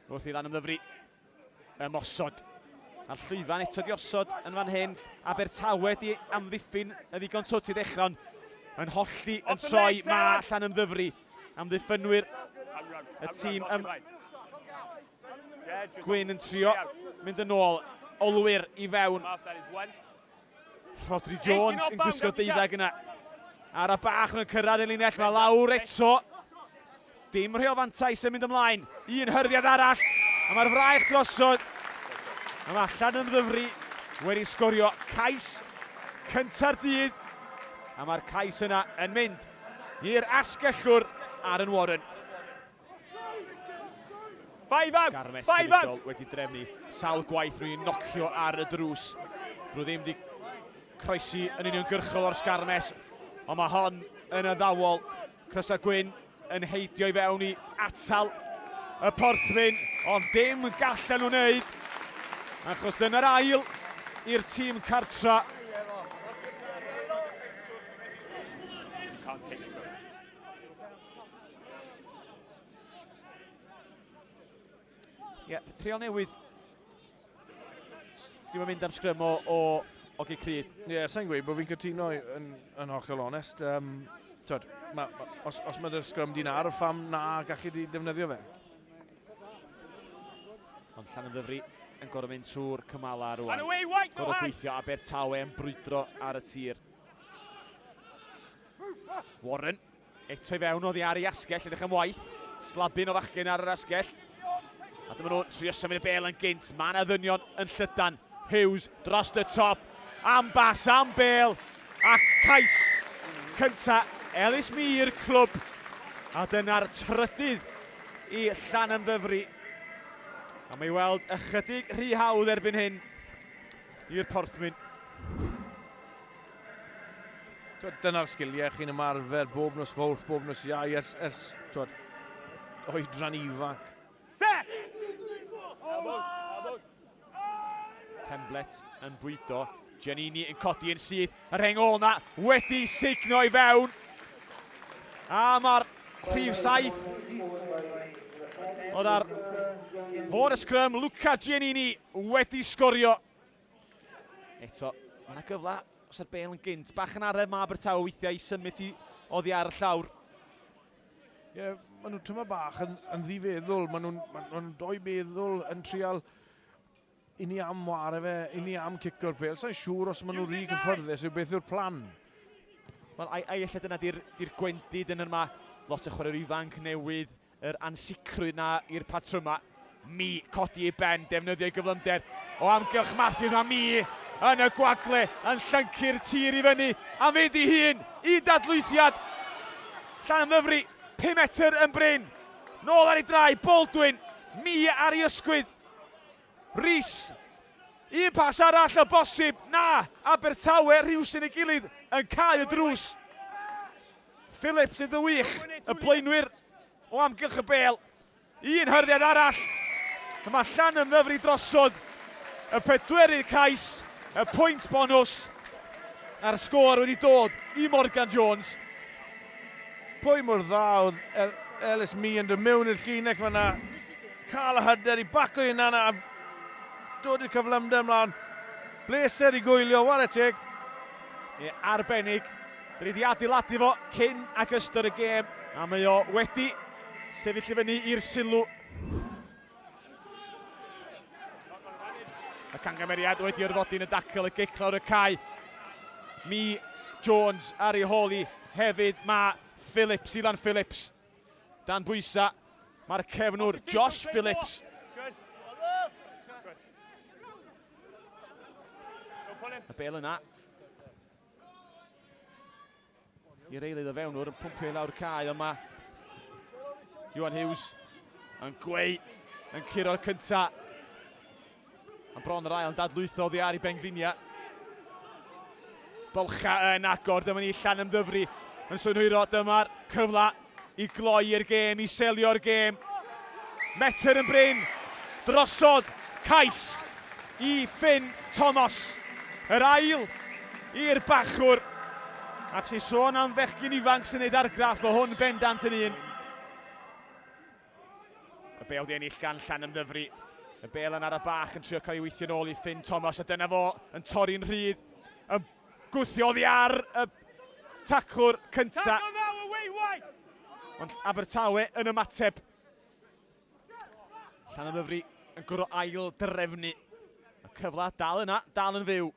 Wrth i lan ymddyfri ymosod. A'r llwyfan eto di osod yn fan hyn. Abertawe di amddiffyn y ddigon twt i ddechrau, ond yn hollti yn troi ma allan ymddyfri. Amddiffynwyr y tîm ym... Gwyn yn trio mynd yn ôl. Olwyr i fewn. Rhodri Jones yn gwisgo deuddeg yna. Ara bach yn cyrraedd yn linell, mae lawr eto. Dim rheo fantais yn mynd ymlaen. Un hyrddiad arall, a mae'r fraich drosodd. A mae allan yn ddyfru wedi sgorio cais cynta'r dydd. A mae'r cais yna yn mynd i'r asgellwr Aaron Warren. Five out! Garmes Five out! wedi drefnu sawl gwaith rwy'n i'n nocio ar y drws. Rwy ddim wedi croesi yn union gyrchol o'r sgarmes, ond mae hon yn addawol. Crosa Gwyn yn heidio i fewn i atal y porthwyn, ond dim gallen nhw'n neud, achos dyna'r ail i'r tîm cartra. Ie, yeah, trial newydd sy'n mynd am sgrym o, o Ogi Crydd. Ie, yeah, sa'n gweud bod fi'n cytuno yn, yn hollol onest. Um, tyd, ma, ma, os, os mae'r sgrym di'n ar, ffam na gallu di defnyddio fe. Ond llan yn ddyfru yn gorau mynd trwy'r cymala rwan. Gorau gweithio a Bertawe yn brwydro ar y tir. Warren, Eto i fewn oddi ar ei asgell, edrych am waith. Slabyn o fachgen ar yr asgell. A dyma nhw'n trio symud y bel yn gynt. Mae yna ddynion yn llydan. Hughes dros y top. Am bas, am bel. A cais cynta Elis Mir, clwb. A dyna'r trydydd i Llan Ymddyfri. A mae weld ychydig rhy hawdd erbyn hyn i'r Porthmyn. Dyna'r sgiliau chi'n ymarfer bob nos fawrth, bob nos iau, ers, ers twod, oedran ifanc. Set! Temblet yn bwydo, Giannini yn codi yn syth, yr heng ôl na wedi signo i fewn. A mae'r prif saith oedd ar fod y sgrym, Luca Giannini wedi sgorio Eto, mae yna gyfle os yw'r bel yn gynt. Bach yn aref mae Abertawe weithiau i symud ti oddi ar y llawr. Ie, yeah, maen nhw'n tyma bach yn, yn ddifeddwl. Maen nhw'n ma nhw doi meddwl yn trial i ni am ware fe, i ni am cico'r pel. Sa'n siŵr os maen nhw'n rhi cyfforddus yw beth yw'r plan. Wel, ai, ai efallai dyna di'r di gwendid yn yma. Lot o chwaraewyr ifanc newydd, yr ansicrwydd 'na i'r patrymau. Mee codi ei ben, defnyddio ei gyflymder o amgylch Matthews. Mae Mee yn y gwagle yn llyncu'r tir i fyny am fynd i hun. Un dadlwythiad. Llanymddyfri, 5 metr yn brin. Nôl ar ei draed, Baldwin. Mee ar ei ysgwydd. Rees. Un pas arall o bosib. Na, Abertawe rhywsyn ei gilydd yn cau y drws. Phillips yn wych, y blaenwyr o amgylch y bêl. Un hyrddiad arall, y mae Llan yn ddyfri drosodd y pedwerydd cais, y pwynt bonws a'r sgôr wedi dod i Morgan Jones. Pwy mor dda oedd El Ellis Meehan yn mewn i'r llinell fanna, cael y hyder i baco i hunan a dod i'r cyflymder ymlaen. Bleser i gwylio, ware teg. Ie, arbennig. Da ni di adeiladu fo cyn ac ystod y gêm a mae o wedi sefyll i fyny i'r sylw. Y cangameriad wedi orfodi yn y dacl y gic lawr y cae. Mi Jones ar ei hôl i hefyd mae Phillips, Ilan Phillips. Dan bwysa, mae'r cefnwr Josh Phillips. Y bel yna I'r eilydd o fewnwr yn pwmpio i lawr cae, ond mae Iwan Hughes yn gweu yn curo'r cynta. Yn bron yr ail yn dadlwytho oddi ar i Benglinia. Bolcha yn agor, dyma ni Llan ymddyfru yn synhwyro, dyma'r cyfle I gloi'r gêm, i selio'r gêm. Metr yn brin, drosodd cais i Finn Thomas. Yr ail i'r bachwr. Ac sy'n sôn am fechgyn ifanc sy'n neud argraff, mae hwn bendant yn un. Y bel di ennill gan Llan Ymddyfri. Y bel yn ar y bach yn trio cael ei weithio'n ôl i Finn Thomas a dyna fo yn torri'n rhydd. Yn Gwthio oddi ar y taclwr cynta. Ond Abertawe yn ymateb. Llan y ddyfri yn gwrdd o ail drefnu. Y cyfle dal yna, dal yn fyw.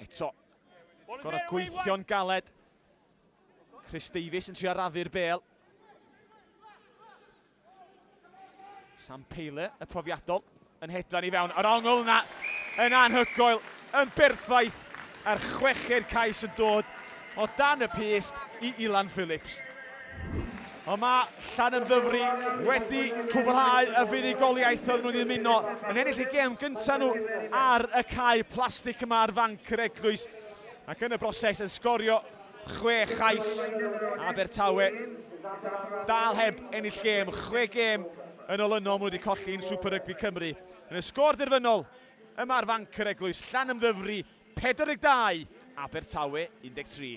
Eto. Gorau gweithio'n galed. Chris Davies yn trio raddu'r bel. Sam Pele, y profiadol, yn hedfan i fewn. Yr ongl yna yn anhygoel, yn berffaith, a'r chweched cais yn dod o dan y pyst i Ilan Phillips. Ond mae Llanymddyfri wedi cwblhau y fuddugoliaeth oedd nhw wedi ymuno yn ennill y gêm gyntaf nhw ar y cae plastig yma ar fanc yr eglwys ac yn y broses yn sgorio Chwe chais, Abertawe dal heb ennill gêm, chwe gêm yn olynol maen nhw wedi colli yn Super Rygbi Cymru. Yn y sgôr derfynol, yma ar fanc yr eglwys, Llanymddyfri 42, Abertawe 13.